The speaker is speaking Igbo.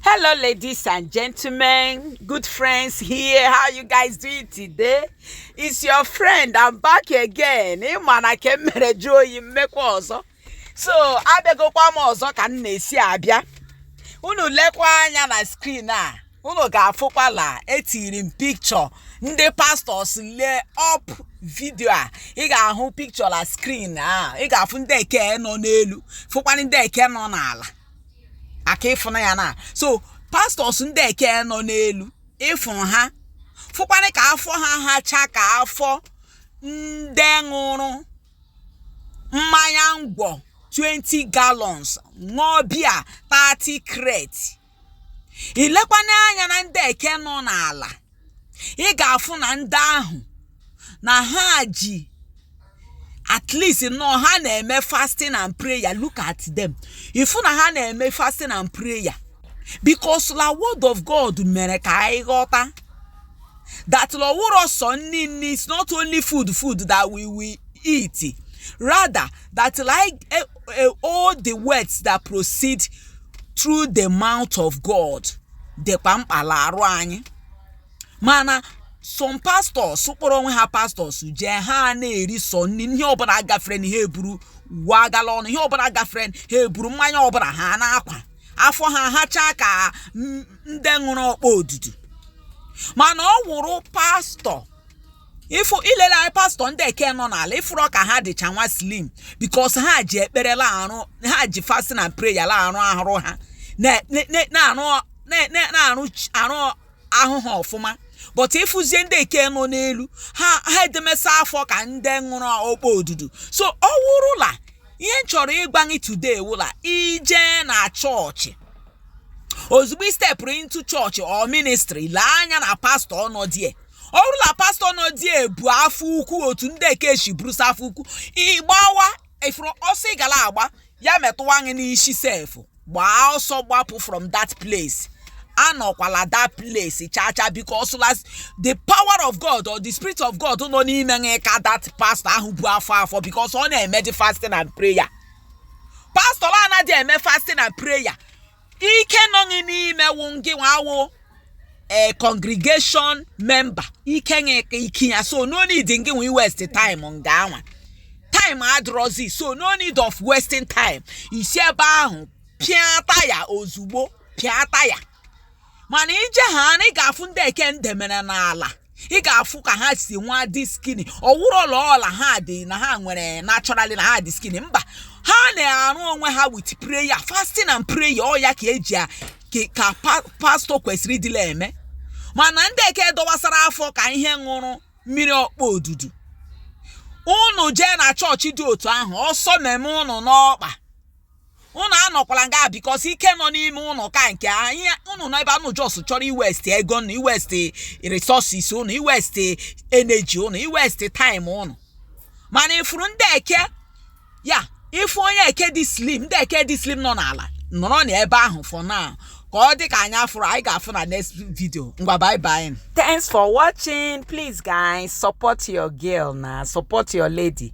hello ladies and gentlemen good friends here how you guys doing today it's your friend i'm back again ị ma na nke m mere jụọ oyi m mekwa ọzọ so abịagokwa m ọzọ ka m na-esi abịa unu lekwa anya na screen a unu ga-afụkwa la etiri m picture ndị pastors lee up video a ị ga-ahụ picture la screen a ị ga-afụ ndị eke nọ n'elu fụkwa ndị eke nọ n'ala aka ịfụna ya na so pastors ndị eke nọ n'elu ị fụ ha fụkwanụ ka afọ ha hacha ka afọ ndị ṅụrụ mmanya ngwọ 20 gallons ṅụọ beer 30 crate i lekwana anya na ndị eke nọ n'ala ị ga-afụ na ndị ahụ na ha ji at least nọ ha na-eme fasting and prayer look at them ị fụ na ha na-eme fasting and prayer because la word of God mere ka anyị ghọta that la ọ wụrọ sọ nni nni is not only food food that we will eat rather that like uh, uh, all the words that proceed through the mouth of God. dịkwa mkpa la arụ anyị mana some pastors kpọrọ onwe ha pastors jee ha na-eri sọ nni ihe ọbụla gaferenụ ha eburu wa aga la ọnụ ihe ọbụla gafere ha eburu mmanya ọbụla ha na-akwa afọ ha hachaa ka m- ndị ṅụrụ ọkpọ odudu mana ọ wụrụ pastor ịfụ i lele anya pastor ndị eke nọ n'ala ị fụrụ ka ha dịcha nwa slim because ha ji ekpere la-arụ ha ji fasting and prayer la-arụ ahụ ha na- na- na- na-arụ na- na- na-arụ ch- arụ ahụ ha ọfụma but ị fụzie ndị eke nọ n'elu ha ha edemesa afọ ka ndị ṅụrụ ọkpọ odudu so ọ wụrụ la ihe m chọrọ ịgwa gị today wụ la i je na church ozugbo i stepụrụ into church or ministry lee anya na pastor nọ die ọ wụrụ la pastor nọ die bu afọ ukwu otu ndị eke shi burusa afọ ukwu ị gbawa ị fụrụ ọsọ ị ga la-agba ya metụwa gị n'isi sef gbaa ọsọ gbapụ from that place anọkwala that place chacha because la the power of god or the spirit of god nọ n'ime gị ka that pastor ahụ bu afọ afọ because ọ na-emedị fasting and prayer pastor anaghị eme fasting and prayer ike nọ gị n'ime wụ ngị nwa wụ ee eh, congregation member ike ka ike ya so no need ngị iwaste time nga anwa time adịrọzi so no need of wasting time i si ebe ahụ pịa taya ozugbo pịa taya mana i je ha na ị ga-afụ ndị eke m demere n'ala ị ga-afụ ka ha si nwa dị skinny ọ wụrụ ọla ọla ha dị na ha nwere naturally na ha dị skinny mba ha na-arụ onwe ha with prayer fasting and prayer ọ ya ka e ji a- ka- ka pa- pastọ kwesịrị ịdịla eme mana ndị eke dọwasara afọ ka ihe ṅụrụ mmiri ọkpọ odudu unu jee na chọọchị dị otu ahụ ọsọ meme unu n'ọkpa unu anọkwala nga because ike nọ n'ime unu ka nke anyị unu nọ ebe anụ just chọrọ iwaste ego unu iwaste resources unu iwaste energy unu iwaste time unu mana ị fụrụ ndị eke ya ị fụ onye eke dị slim ndị eke dị slim nọ n'ala nọrọ na ebe ahụ for now ka ọ dị ka anyị afụrụ anyị ga-afụ na next video ngwa bye bye Thanks for watching. Please, guys, support your girl now. Support your lady.